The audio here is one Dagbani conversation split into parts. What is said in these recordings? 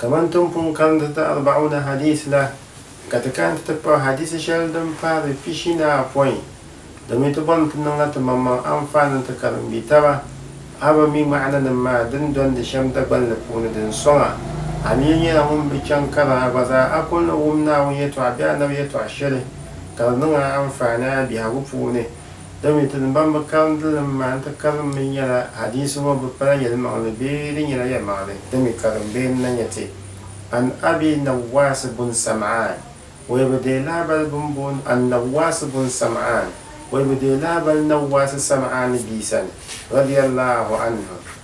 Kaman ti ni pun karimdi ti Arba'una Hadiis la, ka ti kana nti ti kpuɣi hadiisi shɛli din pahi di pishinaapoin, domin ti bɔrimi ti niŋla timaŋmaŋ anfaani n-ti karimbitaba, a bi mi ŋma'ananim maa din dɔndi shɛm Dagbaŋ ni puuni din sɔŋa, a mi yi nyɛla ŋun bi chaŋ karim a gba zaa, a kul ni wum Naawuni yɛtɔɣa bee Annabi yɛtɔɣ shɛli ka di niŋ a anfaani a biɛhigu puuni. Domin ti ni ban bi karim di li m-maa n-ti karim mi nyɛla, hadiisi ŋɔ bi pala yɛlimaŋli bee di nyɛla yɛlimaŋli din mi karim bee n-na nyɛ ti. An Abi Nawaasi bun Sam'aan, o yi bi deei lahabali bɛn booni An-Nawaasi bun Sam'aan, o yi bi deei lahabali Nawaasi Sam'aani bia sani, radiyallahu anhu,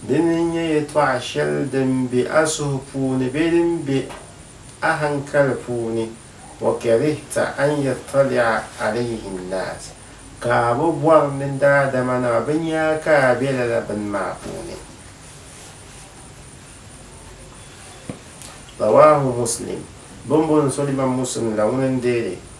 Dini n-nyɛ yɛtɔɣa shɛli din be a suhu puuni bee din be a haŋkali puuni, wa karihta an yattali'a alayhi nnaas, ka a bi bɔri ni daadamanima bɛ nya a ka a be lala bini maa puuni. Rawaahu Muslim, Bimbo ni so Imaam Muslim la ŋuni n-deei li.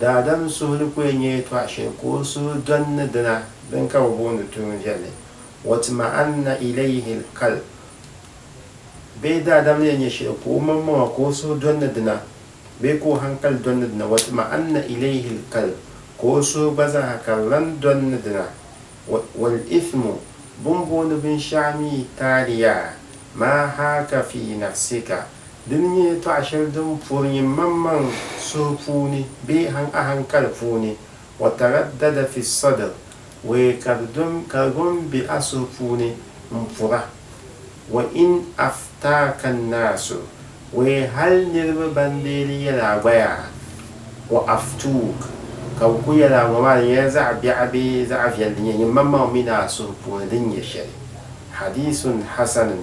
Daadam suhu ni ku yɛn nyɛ yɛtɔɣ shɛli ka o suhu dɔn ni dina din ka bɛ booni tuun viɛlli, Watma'anna ilayhi al-qalb bee daadam ni yɛn nyɛ shɛli ka o maŋmaŋa ka o suhu dɔn ni dina bee ka o hankali dɔn ni dina, Watma'anna ilayhi al-qalb ka o suhu gba zaaha ka di lan dɔn ni dina, Wal-ithmu bɛ ni booni binshɛɣu mi taaliya maa haaka fii nafsika Di ni nyɛ yɛtɔɣ shɛli din puri nyin maŋmaŋ suhu puuni bee han ahankali puuni, wataraddada fi sadr, we ka di dom ka di gom be a suhu puuni m-pura, wa in aftaaka annaasu, we hal niriba ban deeli yɛl a gbaya, wa aftuuk, ka bɛ ku yɛl a ŋɔ maa di nyɛla zaɣ biɛɣu bee zaɣ viɛl di nyɛ nyin maŋmaŋ min a suhu puuni din nyɛ shɛli. Hadiisun Hasanun,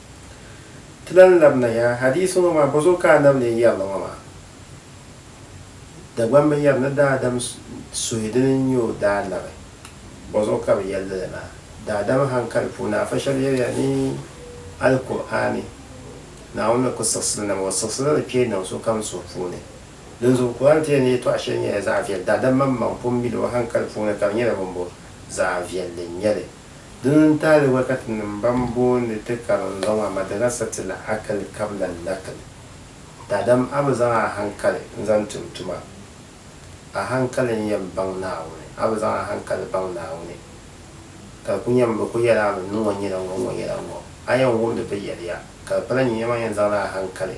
Ti lahi labina yaha hadiisi ŋɔ maa, bɔzuɣu ka Annabi lee yɛri li ŋɔ maa? Dagbaŋ bi yɛri ni daadam suhi dini n-nyɛ o daa labi, bɔzuɣu ka bɛ yɛli li lala? Daadam haŋkali puuni afa shɛba yɛliya ni Alkur'aani, Naawuni ni ku siɣisi li nam, o siɣisi la li kpee niŋ sokam suhu puuni. Dinzuɣu Kur'aani ti yɛn ni yɛtɔɣ shɛli nyɛla zaɣ viɛli, daadam maŋmaŋ pun mi li o haŋkali puuni ka di nyɛla bimbo? Zaɣ viɛlli n-nyɛ li. Dina n-taali wakati nim ban booni ti karinzɔŋ a madrasa ti la akali kabila lakili. Daadam a bi zaŋ a hankali n-zaŋ tum tuma. A hankali n-yɛn baŋ Naawuni, a bi zaŋ a hankali baŋ Naawuni, ka di ku nyɛmi bɛ ku yɛli a mi ni ŋɔ nyɛla ŋɔ, ŋɔ nyɛla ŋɔ. A yɛn wumdi bɛ yɛliya, ka di pala nyuya maa yɛn zaŋla a hankali